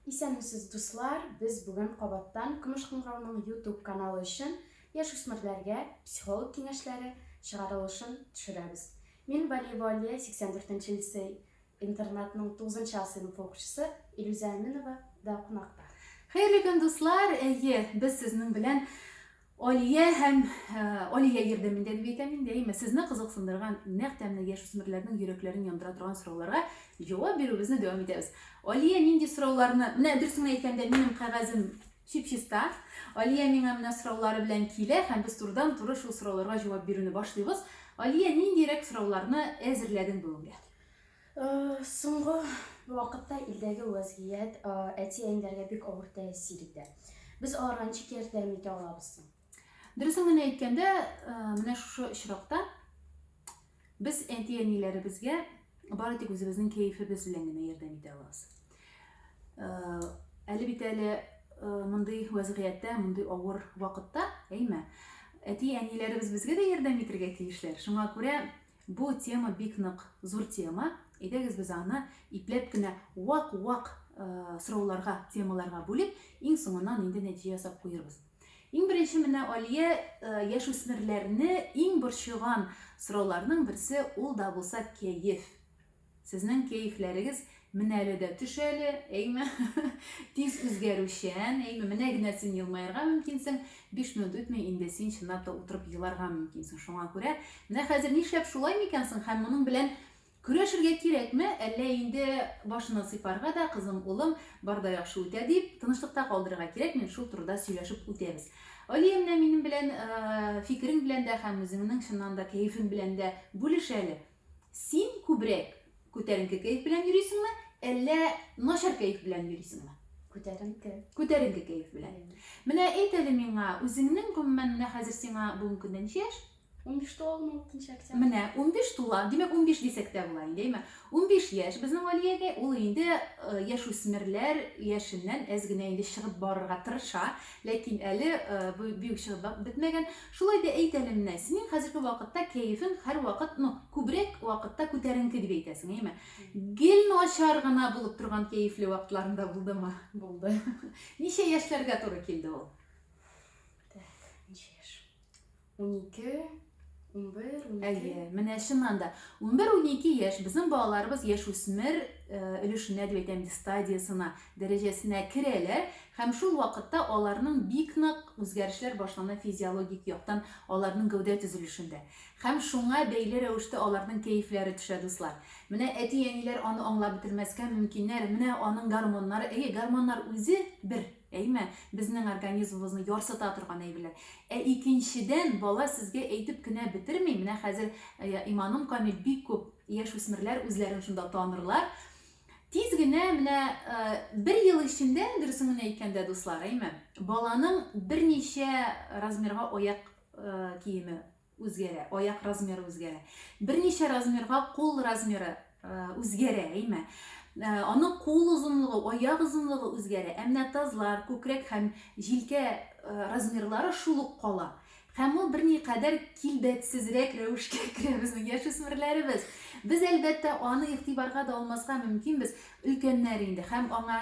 Исәнмесез, дуслар! Без бүген кабаттан Көмеш кыңгырауның YouTube каналы өчен яшүсмерләргә психолог киңәшләре чыгарылышын төшерәбез. Мин Валиева Алия, 84 лицей интернатның 9 А сыйныф укучысы Илүзә Әминова да кунакта. Хәерле көн, дуслар! Әйе, без сезнең белән Алия һәм Алия ярдәмендә бик әйтәм мин дәимә сезне кызыксындырган нәкъ тәмле яшүсмерләрнең йөрәкләрен яндыра торган сорауларга җавап бирүебезне дәвам итәбез. Алия нинди сорауларны, менә дөресен әйткәндә минем кәгазем чип-чиста. Алия миңа менә сораулары белән килә һәм без турыдан туры шул сорауларга җавап бирүне башлыйбыз. Алия ниндирәк сорауларны әзерләдең бүгенгә? Соңгы вакытта илдәге вәзгыять әти-әниләргә бик авыр тәэсир итә. Без аларга ничек ярдәм итә алабыз соң? Дөресен генә әйткәндә, менә шушы очракта без әти-әниләребезгә бары тик үзебезнең кәефебез белән генә ярдәм итә алабыз. Әле бит әле мондый вәзгыятьтә, мондый авыр вакытта, әйме, әти-әниләребез безгә дә ярдәм итәргә тиешләр. Шуңа күрә Бу тема бик нык зур тема, әйдәгез без аны ипләп кенә вак-вак сорауларга, темаларга бүлеп, иң соңыннан инде нәтиҗә ясап куербыз. Иң беренче менә Алия яшүсмерләрне иң борчыган сорауларның берсе ул да булса кәеф. Сезнең кәефләрегез менә әле дә төш әле, әйме? Тиз үзгәрүчән, әйме? Менә генә син елмаерга мөмкинсең, биш минут үтми инде син чынлап та утырып еларга мөмкинсең. Шуңа күрә менә хәзер нишләп шулай микән соң һәм моның белән көрәшергә кирәкме, әллә инде башына сыйпарга да, кызым, улым, бар да яхшы үтә дип, тынычлыкта калдырырга кирәкме, шул турыда сөйләшеп үтәбез. Алия менә минем белән фикерең белән дә һәм үзеңнең чыннан да кәефең белән дә бүлеш әле. Син күбрәк күтәренке кәеф белән йөрисеңме, әллә начар кәеф белән йөрисеңме? Күтәренке. Күтәренке кәеф белән. Менә әйт әле миңа, үзеңнең гомумән менә хәзер сиңа бүгенге көндә ничә яшь? 15 тулдым 6 октябрь. Менә 15 тула, димәк 15 дисәк тә була инде, әйме? 15 яшь безнең Алиягә, ул инде э, яшүсмерләр яшеннән әз генә инде чыгып барырга тырыша, ләкин әле э, бу бик чыгып бетмәгән. Шулай да әйт әле менә, синең хәзерге вакытта кәефең һәрвакыт, ну, күбрәк вакытта күтәренке дип әйтәсең, әйме? Гел начар гына булып торган кәефле вакытларың да булдымы? Булды. Ничә яшьләргә туры килде ул? Так, ничә яшь? Унике, унбер, унике. Әйе, менә чыннан да. Унбер-унике яшь, безнең балаларыбыз яшүсмер э, өлешенә дип әйтәм инде, стадиясына дәрәҗәсенә керәләр һәм шул вакытта аларның бик нык үзгәрешләр башлана физиологик яктан аларның гәүдә төзелешендә. Һәм шуңа бәйле рәвештә аларның кәефләре төшә, дуслар. Менә әти-әниләр аны аңлап бетермәскә мөмкиннәр, менә аның гормоннары, әйе, гормоннар үзе, бер, әйме, безнең организмыбызны ярсыта торган әйберләр. Ә икенчедән, бала сезгә әйтеп кенә бетерми, менә хәзер, иманым камил, бик күп яшүсмерләр үзләрен шунда танырлар, Тиз генә менә бер ел эчендә, дөресен генә әйткәндә, дуслар, әйме, баланың берничә размерга аяк киеме үзгәрә, аяк размеры үзгәрә. Берничә размерга кул размеры үзгәрә, әйме. Аның кул озынлыгы, аяк озынлыгы үзгәрә, ә менә тазлар, күкрәк һәм җилкә размерлары шул ук кала. Һәм ул берникадәр килбәтсезрәк рәвешкә керә безнең яшүсмерләребез. Без, әлбәттә, аны игътибарга да алмаска мөмкинбез, өлкәннәр инде, һәм аңа,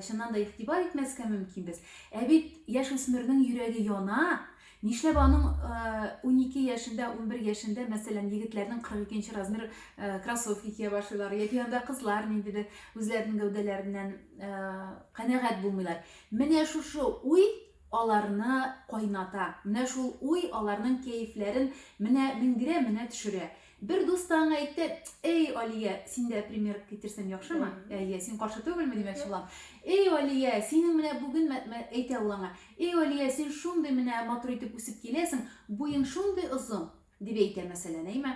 чыннан да, игътибар итмәскә мөмкинбез. Ә бит яшүсмернең йөрәге яна! Нишләп аның унике яшендә, унбер яшендә, мәсәлән, егетләрнең кырык икенче размер кроссовка кия башлыйлар, яки анда кызлар ниндидер үзләренең гәүдәләреннән канәгать булмыйлар? Менә шушы уй аларны кайната. Менә шул уй аларның кәефләрен менә менгерә, менә төшерә. Бер дус та аңа әйтте, Әй, Алия, син дә пример китерсәң яхшымы? Әйе, син каршы түгелме, димәкче булам. Әй, Алия, синең менә бүген, әйтә ул аңа, әй, Алия, син шундый менә матур итеп үсеп киләсең, буең шундый озын, дип әйтә, мәсәлән, әйме?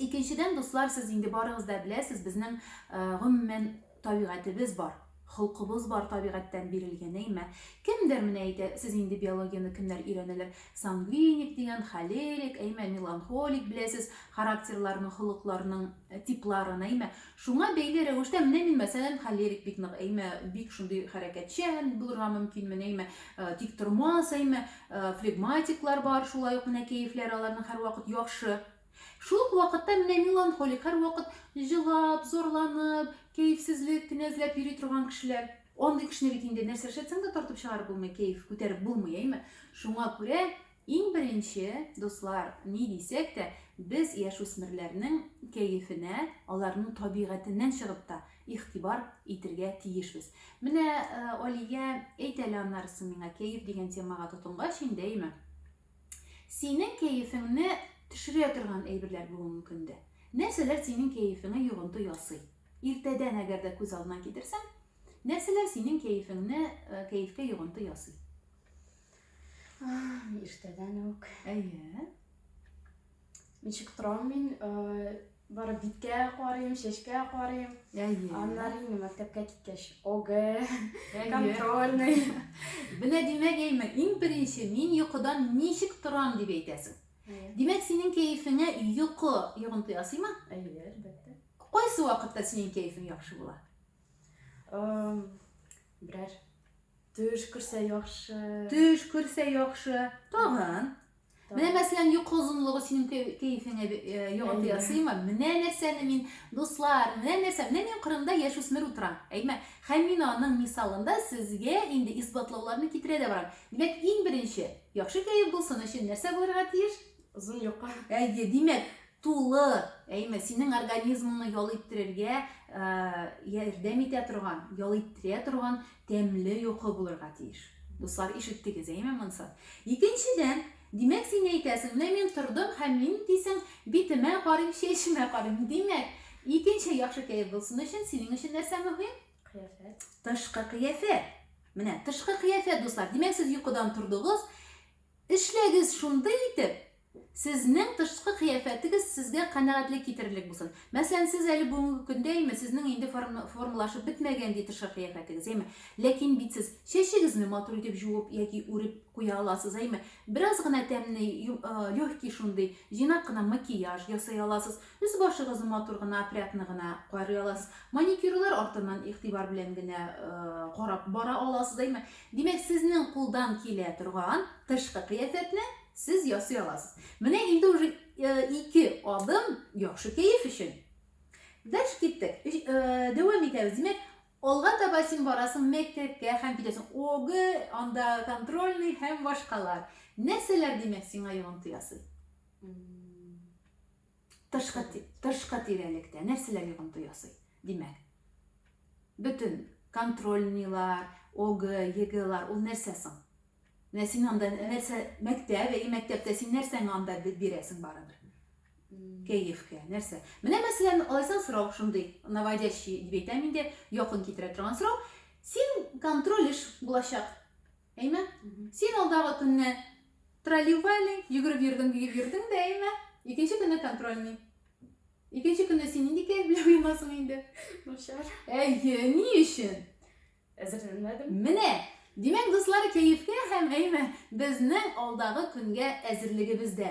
Икенчедән, дуслар, сез инде барыгыз да беләсез, безнең, гомумән, табигатебез бар, холкыбыз бар, табигатьтән бирелгән, әйме? Кемдер менә әйтә, сез инде биологияне кемнәр өйрәнәләр, сангвиник дигән, холерик, әйме, меланхолик, беләсез, характерларның, холыкларның типларын, әйме? Шуңа бәйле рәвештә менә мин, мәсәлән, холерик бик нык, әйме, бик шундый хәрәкәтчән булырга мөмкинмен, әйме, тиктормас, әйме, флегматиклар бар, шулай ук менә кәефләре аларның һәрвакыт яхшы. Шул ук вакытта менә меланхолик, һәрвакыт җылап, зарланып, кәефсезлек кенә эзләп йөри торган кешеләр. Андый кешене бит инде нәрсә эшләтсәң дә тартып чыгарып булмый, кәеф күтәреп булмый, әйме. Шуңа күрә Иң беренче, дуслар, ни дисәк тә, без яшүсмерләрнең кәефенә, аларның табигатеннән чыгып та, игътибар итергә тиешбез. Менә, Алия, әйт әле аннарысы миңа, кәеф дигән темага тотынгач инде, әйме? Синең кәефеңне төшерә торган әйберләр булуы мөмкин дә. Нәрсәләр синең кәефеңә йогынты ясый? Иртәдән әгәр дә күз алдына китерсәң, нәрсәләр синең кәефеңне, кәефкә йогынты ясый? Иртәдән үк. Әйе. Ничек торам мин? Э, Бары биткә карыйм, чәчкә карыйм. Әйе. Аннары инде мәктәпкә киткәч, ОГЭ, контрольный. Менә димәк, әйме, иң беренче мин йокыдан ничек торам дип әйтәсең. Димәк, синең кәефеңә йокы йогынты ясыймы? Әйе, әлбәттә. Кайсы вакытта синең кәефең яхшы була? Берәр төш күрсә яхшы. Төш күрсә яхшы. Тагын. Менә мәсәлән йокы озынлыгы синең кәефеңә э, йогынты ясыймы? Менә нәрсәне мин, дуслар, менә нәрсә, менә мин кырында яшүсмер утырам. Әйме? Һәм мин аның мисалында сезгә инде исбатлауларны китерә дә барам. Димәк, иң беренче, яхшы кәеф булсын өчен нәрсә булырга тиеш? Озын йокы. Әйе, димәк, Тулы, әйме, синең организмыңны ял иттерергә ярдәм итә торган, ял иттерә торган тәмле йокы булырга тиеш. Дуслар, ишеттегез, әйме монсы? Икенчедән, димәк, син әйтәсең, менә мин тордым һәм мин дисең, битемә карыйм, чәчемә карыйм. Димәк, икенче яхшы кәеф булсын өчен синең өчен нәрсә мөһим? Кыяфәт. Тышкы кыяфәт. Менә тышкы кыяфәт, дуслар. Димәк, сез йокыдан тордыгыз, Эшләгез шундый итеп, сезнең тышкы кыяфәтегез сезгә канәгатьлек китерерлек булсын. Мәсәлән, сез әле бүгенге көндә, яме, сезнең инде формалашып бетмәгән ди тышкы кыяфәтегез, яме. Ләкин бит сез чәчегезне матур итеп җуып яки үреп куя аласыз, яме. Бераз гына тәмне, легкий шундый, җыйнак кына макияж ясый аласыз. Өс-башыгызны матур гына, опрятно гына карый аласыз. Маникюрлар артыннан игътибар белән генә карап бара аласыз, яме. Димәк, сезнең кулдан килә торган тышкы кыяфәтне сез ясый аласыз. Менә инде уже ике адым яхшы кәеф өчен. Дальше киттек. Дәвам итәбез. Димәк, алга таба син барасың мәктәпкә һәм китәсең ОГ, анда контрольный һәм башкалар. Нәрсәләр, димәк, сиңа йогынты ясый? Тышкы, тышкы тирәлектә нәрсәләр йогынты ясый? Димәк, бөтен контрольныйлар, ОГ, ЕГЭлар, ул нәрсә соң? Менә син анда нәрсә, мәктәп, әй, мәктәптә син нәрсәңә анда бирәсең барыбер? Кәефкә, нәрсә? Менә мәсәлән, алайсаң сорау шундый, наводящий дип әйтәм инде, якын китерә торган сорау. Син контроль эш булачак. Әйме? Син алдагы көнне тролливали, йөгереп йөрдең, биеп йөрдең дә, әйме? Икенче көнне контрольный. Икенче көнне син нинди кәеф белән уянасың инде? Начар. Әйе, ни өчен? Әзерләнмәдем. Менә, димәк, дуслар, кәефкә һәм әйме безнең алдагы көнгә әзерлегебез дә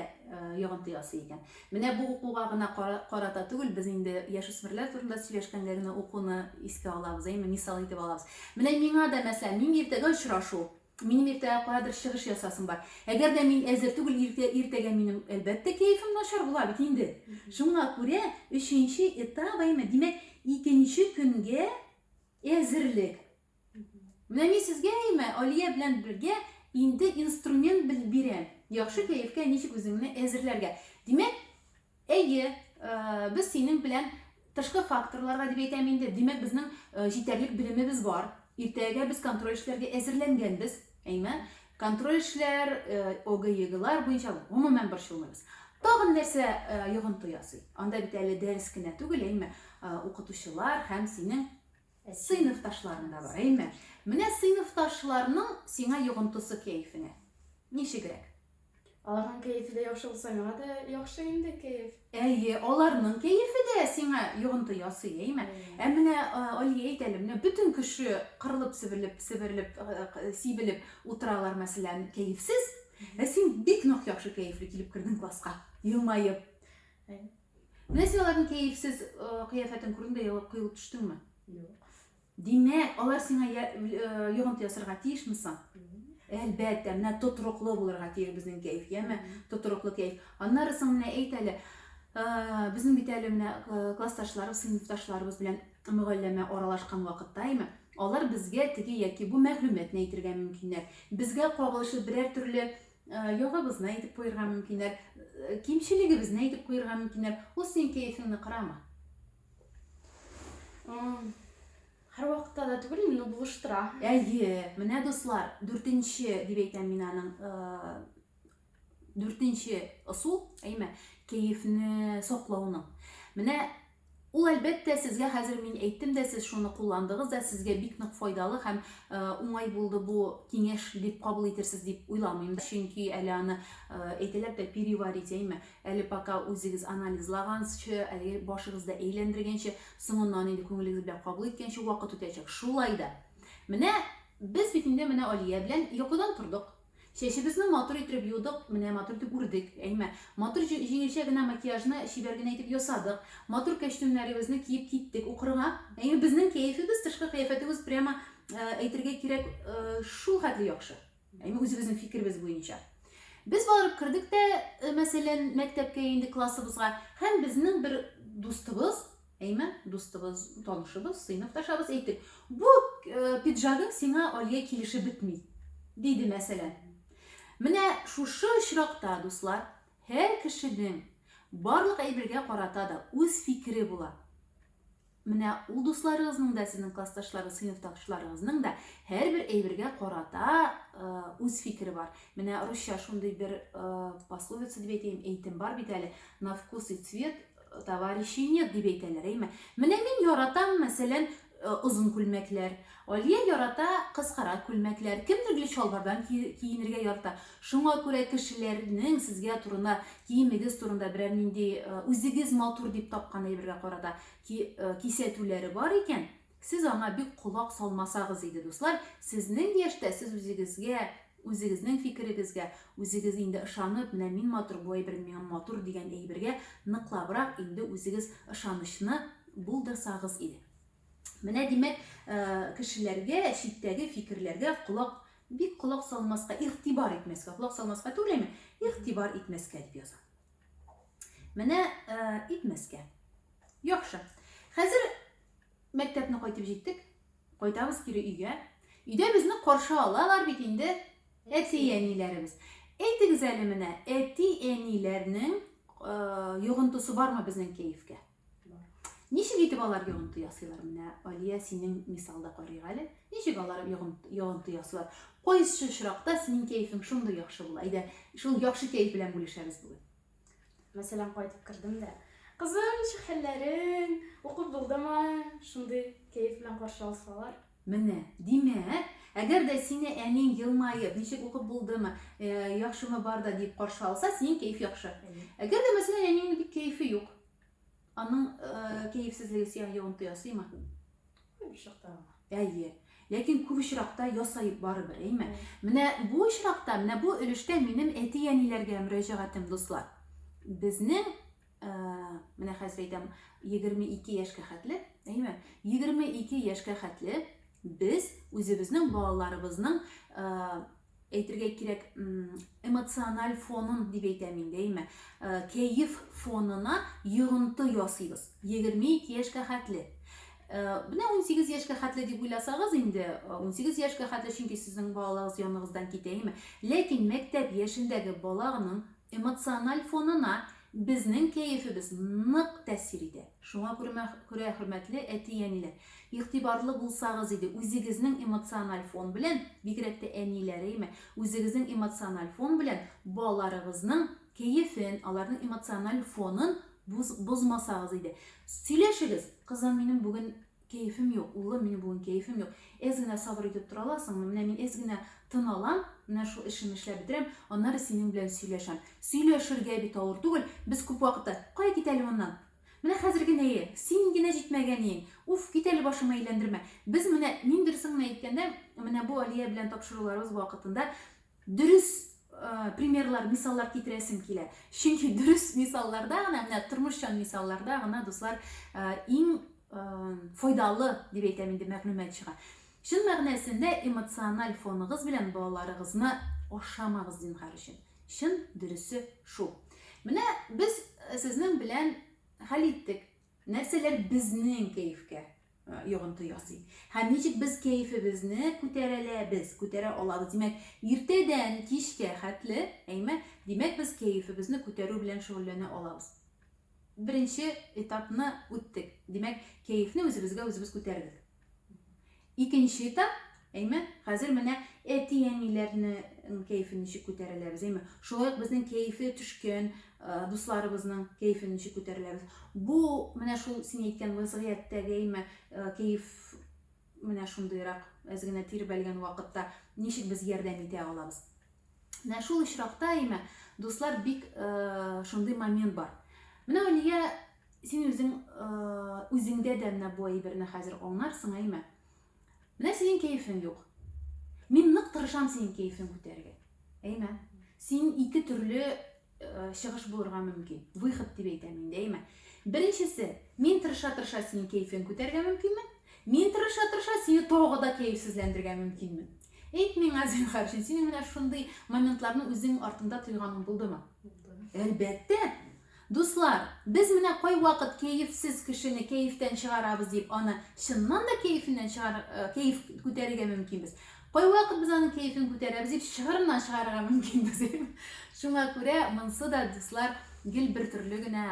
йогынты ясый икән. Менә бу укуга гына карата түгел, без инде яшүсмерләр турында сөйләшкәндә генә укуны искә алабыз, әйеме, мисал итеп алабыз. Менә миңа да, мәсәлән, мин иртәгә очрашу, минем иртәгә каядыр чыгыш ясасым бар. Әгәр дә мин әзер түгел, иртә, иртәгә минем, әлбәттә, кәефем начар була бит инде. Шуңа күрә өченче этап, әйеме, димәк, икенче көнгә әзерлек. Менә мин сезгә әйме, Алия белән бергә инде инструмент бирәм. Яхшы кәефкә ничек үзеңне әзерләргә. Димәк, әйе, э, без синең белән тышкы факторларга дип әйтәм инде. Димәк, безнең э, җитәрлек белемебез бар. Иртәгә без контроль эшләргә әзерләнгәнбез. Әйме? Контроль эшләр, э, ОГЕГлар буенча гомумән борчылмыйбыз. Тагын нәрсә йогынты ясый? Анда бит әле дәрес кенә түгел, әйме? Укытучылар һәм синең Сыйныфташларың да бар, әйме? Менә сыйныфташларның сиңа йогынтысы кәефеңә. Ничегрәк? Аларның кәефе дә яхшы булса, миңа да яхшы инде кәеф. Әйе, аларның кәефе дә сиңа йогынты ясый, әйме? Ә менә Алия әйт әле, менә бөтен кеше кырылып, себерелеп, себерелеп, сибелеп утыралар, мәсәлән, кәефсез. Ә син бик нык яхшы кәефле килеп кердең класска, елмаеп. Менә син аларның кәефсез кыяфәтен күрдең дә ялап коелып төштеңме? Юк. Димәк, алар сиңа йогынты ясарга тиешме соң? Әлбәттә, менә тотрыклы булырга тиеш безнең кәеф, яме? Тотрыклы кәеф. Аннары соң менә әйт әле, безнең бит әле менә классташларыбыз, сыйныфташларыбыз белән мөгалләмә аралашкан вакытта, яме? Алар безгә теге яки бу мәгълүматны әйтергә мөмкиннәр. Безгә кагылышлы берәр төрле Э, ягыбызны әйтеп куерга мөмкиннәр, э, кимчелегебезне әйтеп куерга мөмкиннәр. Ул синең кәефеңне кырама. Һәр вакытта да түгел, инде булыштыра. Әйе, менә дуслар, дүртенче дип әйтәм мин аның э, дүртенче ысул, әйме, кәефне саклауның. Менә Ул әлбәттә сезгә хәзер мин әйттем дә, сез шуны кулландыгыз да, сезгә бик нык файдалы һәм э, уңай булды бу киңәш дип кабул итерсез дип уйламыйм. Чөнки әле аны э, әйтәләр дә переварить әйме. Әле пока үзегез анализлагансчы, әле башыгызда әйләндергәнче, соңыннан инде күңелегез белән кабул иткәнче вакыт үтәчәк. Шулай да. Менә без бит инде менә Алия белән йокыдан тордык. Чәчебезне матур иттереп юдык, менә матур итеп үрдек, әйме. Матур җиңелчә генә макияжны чибәр генә итеп ясадык. Матур кәчтүмнәребезне киеп киттек укырга. Әйме, безнең кәефебез, тышкы кыяфәтебез прямо, әйтергә кирәк, шул хәтле яхшы. Әйме, үзебезнең фикеребез буенча. Без барып кердек тә, мәсәлән, мәктәпкә, инде классыбызга, һәм безнең бер дустыбыз, Әймән, дустыбыз, танышыбыз, сыйныфташабыз әйтеп, бу пиджагың сиңа Алия килешеп бетми, диде мәсәлән. Менә шушы очракта, дуслар, һәр кешенең барлык әйбергә карата да үз фикере була. Менә ул дусларыгызның да, сезнең классташларыгыз, сыйныфташларыгызның да һәрбер әйбергә карата үз фикере бар. Менә русча шундый бер пословица дип әйтәйем, әйтем бар бит әле, на вкус и цвет Товарищи нет, дип әйтәләр, әйме. Менә мин яратам, мәсәлән, э, озын күлмәкләр. Алия ярата кыскара күлмәкләр. Кемдер гел чалбардан киенергә ярата. Шуңа күрә кешеләрнең сезгә турында, киемегез турында берәр нинди э, үзегез матур дип тапкан әйбергә карата э, кисәтүләре бар икән, Сез аңа бик колак салмасагыз иде, дуслар, сезнең яшьтә сез үзегезгә, үзегезнең фикерегезгә, үзегез инде ышанып, менә мин матур, бу әйберем миңа матур дигән әйбергә ныклабрак инде үзегез ышанычны булдырсагыз иде. Менә димәк, кешеләргә, читтәге фикерләргә колак, бик колак салмаска, игътибар итмәскә, колак салмаска түгел әйме, игътибар итмәскә дип яза. Менә итмәскә. Яхшы. Хәзер Мәктәпне кайтып җиттек. Кайтабыз кире өйгә. Өйдә безне каршы алалар бит инде әти-әниләребез. Әйтегез әле менә, әти-әниләрнең йогынтысы бармы безнең кәефкә? Ничек итеп алар йогынты ясыйлар? Менә Алия синең мисалда карыйк әле. Ничек алар йогынты ясыйлар? Кайсы очракта синең кәефең шундый яхшы була? Әйдә, шул яхшы кәеф белән бүлешәбез бүген. Мәсәлән, кайтып кердем дә, кызым, ничек хәлләрең, укып булдымы? Шундый кәеф белән каршы алсалар. Менә, димәк, әгәр дә сине әниң елмаеп, ничек укып булдымы, э, яхшымы бар да дип каршы алса, синең кәеф яхшы. Әгәр дә, мәсәлән, әниңнең бик кәефе юк, аның э, кәефсезлеге сиңа йогынты ясыймы? Күп очракта гына. Әйе. Ләкин күп очракта ясаеп барыбер, әйме? Менә бу очракта, менә бу өлештә минем әти-әниләргә мөрәҗәгатем, дуслар. Безнең, менә хәзер әйтәм, 22 яшькә хәтле, әйме? 22 яшькә хәтле без үзебезнең балаларыбызның әйтергә кирәк, эмоциональ фонын дип әйтәм инде, әйме, э, кәеф фонына йогынты ясыйбыз. 22 яшькә хәтле. Э, менә 18 яшькә хәтле дип уйласагыз инде, 18 э, яшькә хәтле, чөнки сезнең балаларыгыз яныгыздан китә, әйме. Ләкин мәктәп яшендәге баланың Эмоциональ фонына безнең кәефебез нык тәэсир итә. Шуңа күрә, хөрмәтле әти-әниләр, игътибарлы булсагыз иде, үзегезнең эмоциональ фон белән, бигрәк тә әниләреме, үзегезнең эмоциональ фон белән балаларыгызның кәефен, аларның эмоциональ фонын бозмасагыз иде. Сөйләшегез, кызым, минем бүген Кәефем юк, улым, минем бүген кәефем юк. Әз генә сабыр итеп тора аласыңмы? Менә мин әз генә тын алам, менә шул эшемне эшләп бетерәм, аннары синең белән сөйләшәм. Сөйләшергә бит авыр түгел, без күп вакытта, Кая кит әле моннан! Менә хәзер генәе! Синең генә җитмәгәниең! Уф, кит әле башыңны әйләндермә! Без менә, мин дөресен генә әйткәндә, менә бу Алия белән тапшыруларыбыз вакытында Дөрес примерлар, мисаллар китерәсем килә. Чөнки дөрес мисалларда гына, менә тормышчан мисалларда гына, дуслар, иң файдалы дип әйтәм инде мәгълүмат чыга. Чын мәгънәсендә эмоциональ фоныгыз белән балаларыгызны ашамагыз зинһар өчен. Чын дөресе шул. Менә без сезнең белән хәл иттек. Нәрсәләр безнең кәефкә йогынты ясый? Һәм ничек без кәефебезне күтәрәләбез, күтәрә алабыз? Димәк, иртәдән кичкә хәтле, әйме? Димәк, без кәефебезне күтәрү белән шөгыльләнә алабыз. Беренче этапны үттек. Димәк, кәефне үзебезгә үзебез күтәрдек. Икенче этап, әйме, хәзер менә әти-әниләрнең кәефен ничек күтәреләбез, әйме, шулай ук безнең кәефе төшкән дусларыбызның кәефен ничек күтәреләбез. Бу менә шул син әйткән вазгыятьтәге, әйме, кәеф менә шундыйрак әз генә тирбәлгән вакытта ничек без ярдәм итә алабыз. Менә шул очракта, әйме, дуслар бик шундый момент бар. Менә Алия Син үзең үзеңдә дә менә бу әйберне хәзер аңларсың, әйме? Менә синең кәефең юк. Мин нык тырышам синең кәефең күтәрергә. Әйме? Син ике төрле чыгыш булырга мөмкин. Выход дип әйтәм инде, әйме? Беренчесе, мин тырыша-тырыша синең кәефең күтәрергә мөмкинмен. Мин тырыша-тырыша сине тагы да кәефсезләндергә мөмкинмен. Әйт миңа, зинһар өчен, синең менә шундый моментларны үзең артыңда тойганың булдымы? Булды. Әлбәттә, Дуслар, без менә кайвакыт кәефсез кешене кәефтән чыгарабыз дип, аны чыннан да кәефеннән чыгар, кәеф күтәрергә мөмкинбез. Кайвакыт без аның кәефен күтәрәбез дип, чыгырыннан чыгарырга мөмкинбез. Шуңа күрә монсы да, дуслар, гел бер төрле генә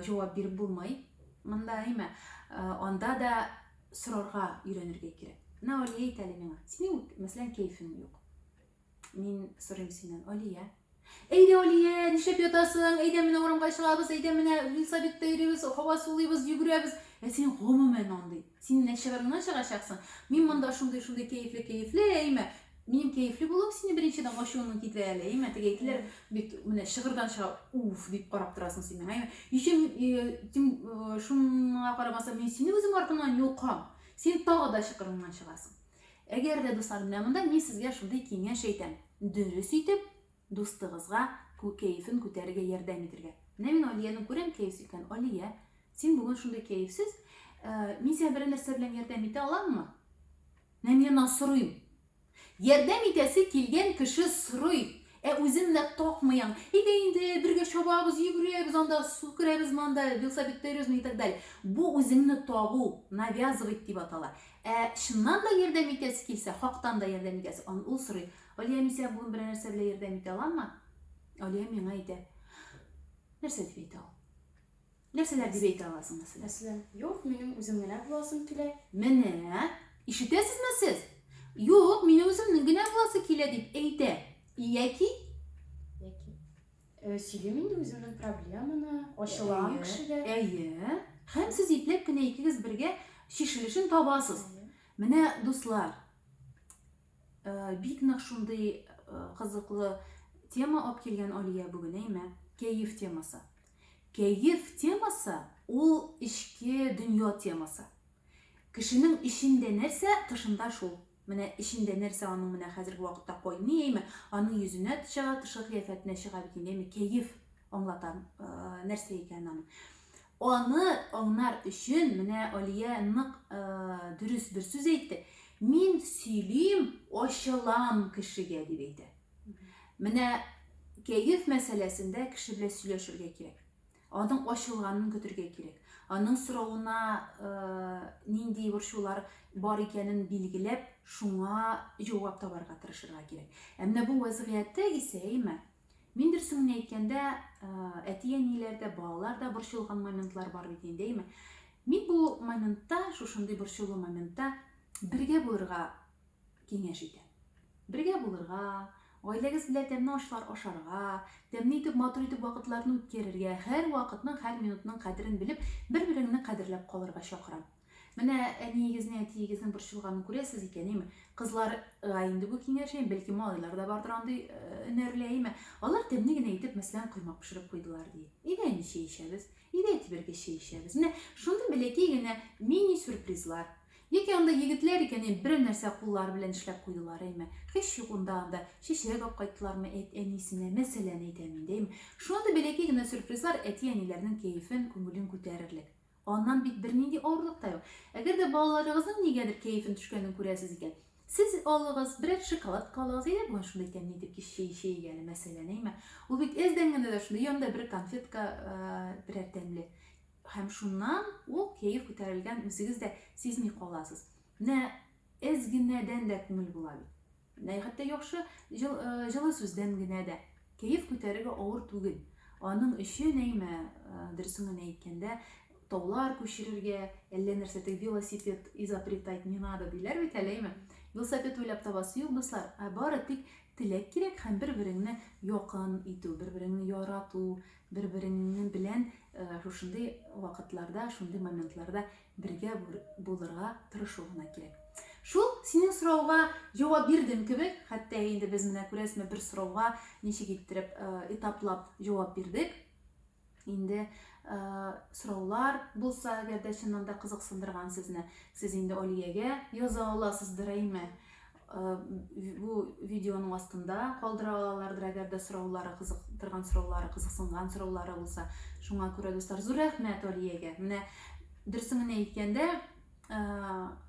җавап биреп булмый. Монда, әйме, анда да сорарга өйрәнергә кирәк. Менә Алия әйтә әле миңа, синең, мәсәлән, кәефең юк. Мин сорыйм синнән, Алия. Әйдә, Алия, нишләп ятасың? Әйдә, менә урамга чыгабыз, әйдә, менә Вилсабитта йөрибез, һава сулыйбыз, йөгерәбез. Ә син гомумән андый. Син нәчыгырыңнан чыгачаксың. Мин монда шундый, шундый кәефле, кәефле, әйме? Минем кәефле булуым сине беренчедән ачуыңны китерә әле, әйме? Теге әйтелер бит, менә чыгырдан чыга, уф, дип карап торасың син миңа, әйме? Ичем, тем, шуңа карамастан, мин сине үзем артымнан йолкам. Син тагы да чыкырыңнан чыгасың. Әгәр дә дуслар менә монда, мин сезгә шундый киңәш әйтәм, дөрес итеп дустыгызга кәефен күтәрергә ярдәм итергә. Менә мин Алиянең күрәм кәеф икән. Алия, син бүген шундый кәефсез, э, мин сиңа берәр нәрсә белән ярдәм итә аламмы? Менә мин аннан сорыйм. Ярдәм итәсе килгән кеше сорый. Ә үзем менә такмыйм. Әйдә инде, бергә чабабыз, йөгерәбез, анда су керәбез, монда велосипед тәйрәбез и так далее. Бу үзеңне тагу, навязывать дип атала. Ә чыннан да ярдәм итәсе килсә, хактан да ярдәм итәсе, ан ул сорый, Алия, мин сиңа бүген берәр нәрсә белән ярдәм итә аламмы? Алия миңа әйтә, Нәрсә дип әйтә ул? Нәрсәләр дип әйтә аласың, мәсәлән? Мәсәлән, Юк, минем үзем генә буласым килә. Менә, ишетәсезме сез? Юк, минем үземнең генә буласы килә, дип әйтә. Яки? Яки. Э, сөйлим инде үземнең проблеманы, ачылам Әйе, кешегә. Әйе. Һәм сез ипләп кенә икегез бергә чишелешен табасыз. Менә дуслар, э, бик нык шундый э, кызыклы тема алып килгән Алия бүген, әйме? Кәеф темасы. Кәеф темасы ул эчке дөнья темасы. Кешенең эчендә нәрсә, тышында шул. Менә эчендә нәрсә аның менә хәзерге вакытта кайный әйме, аның йөзенә чыга, тышкы кыяфәтенә чыга бит инде әйме, кәеф аңлата нәрсә икәнен аның. Аны аңнар өчен менә Алия нык дөрес бер сүз әйтте. Мин сөйлим, ачылам кешегә дип әйтә. Менә кәеф мәсьәләсендә кеше белән сөйләшергә кирәк. Аның ачылганын көтергә кирәк. Аның соравына нинди борчулар бар икәнен билгеләп, шуңа җавап табарга тырышырга кирәк. Ә менә бу вәзгыятьтә исә, әйме, мин дөресен генә әйткәндә, әти-әниләр дә, балалар да борчылган моментлар бар бит инде, әйме. Мин бу моментта, шушындый борчулы моментта бергә булырга киңәш итә. Бергә булырга, гаиләгез белән тәмле ашлар ашарга, тәмле итеп, матур итеп вакытларны үткәрергә, һәр вакытның, һәр минутның кадерен белеп, бер-береңне кадерләп калырга чакырам. Менә әниегезнең, әтиегезнең борчылганын күрәсез икән, име? Кызларга инде бу киңәш, име? Бәлки, малайлар да бардыр андый өнәрле, име? Алар тәмле генә итеп, мәсәлән, коймак пешереп куйдылар, ди. Өйдә әни чәй эчәбез, өйдә әти бергә чәй эчәбез. Менә шундый бәләкәй генә мини-сюрпризлар. Яки анда егетләр икән, әй, берәр нәрсә куллары белән эшләп куйдылар, әйме. Һич юк анда, анда чәчрәк апкайттылармы, әйт, әни исеменә, мәсәлән әйтәм инде, әйме. Шундый бәләкәй генә сюрпризлар әти-әниләрнең кәефен, күңелен күтәрерлек. Аннан бит бернинди авырлык та юк. Әгәр дә балаларыгызның нигәдер кәефен төшкәнен күрәсез икән, сез алыгыз, берәр шоколадка алыгыз, әйдә бүген шундый тәмле итеп кич чәе эчәйек әле, мәсәлән, әйме. Ул бит әздән генә дә шундый, янында бер конфетка, берәр тәмле. Һәм шуннан ул кәеф күтәрелгән үзегез дә сизми каласыз. Менә әз генәдән дә күңел була бит. Менә хәтта яхшы җыл, э, җылы сүздән генә дә кәеф күтәрергә авыр түгел. Аның өчен әйме, э, дөресен генә әйткәндә, таулар күчерергә, әллә нәрсә теге велосипед изобретать не надо диләр бит әле, әйме? Велосипед уйлап табасы юк, дуслар, ә бары тик теләк кирәк һәм бер-береңне якын итү, бер-береңне ярату, Бер-береңне белән шушындый вакытларда, шундый моментларда бергә булырга тырышу гына кирәк. Шул синең сорауга җавап бирдем кебек, хәтта инде без менә күрәсме бер сорауга ничек иттереп этаплап җавап бирдек. Инде сораулар булса, әгәр дә чыннан да кызыксындырган сезне, сез инде Алиягә яза аласыз, дөрәйме? Бу видеоның астында калдыра алалардыр, әгәр дә сораулары кызыктырган сораулары, кызыксынган сораулары булса. Шуңа күрә, дуслар, зур рәхмәт Алиягә. Менә дөресен генә әйткәндә,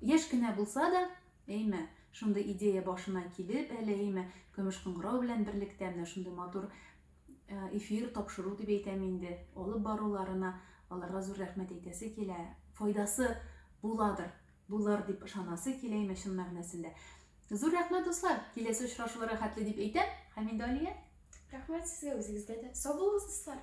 яшь кенә булса да, әйме, шундый идея башына килеп, әле әйме, көмеш кыңгырау белән берлектә менә шундый матур эфир тапшыру дип әйтәм инде, алып баруларына аларга зур рәхмәт әйтәсе килә. Файдасы буладыр Булыр дип ышанасы киләме чын мәгънәсендә? Зур рәхмәт, дуслар! Киләсе очрашуларга хәтле дип әйтәм һәм инде Алия. Рәхмәт сезгә, үзегезгә дә. Сау булыгыз, дуслар!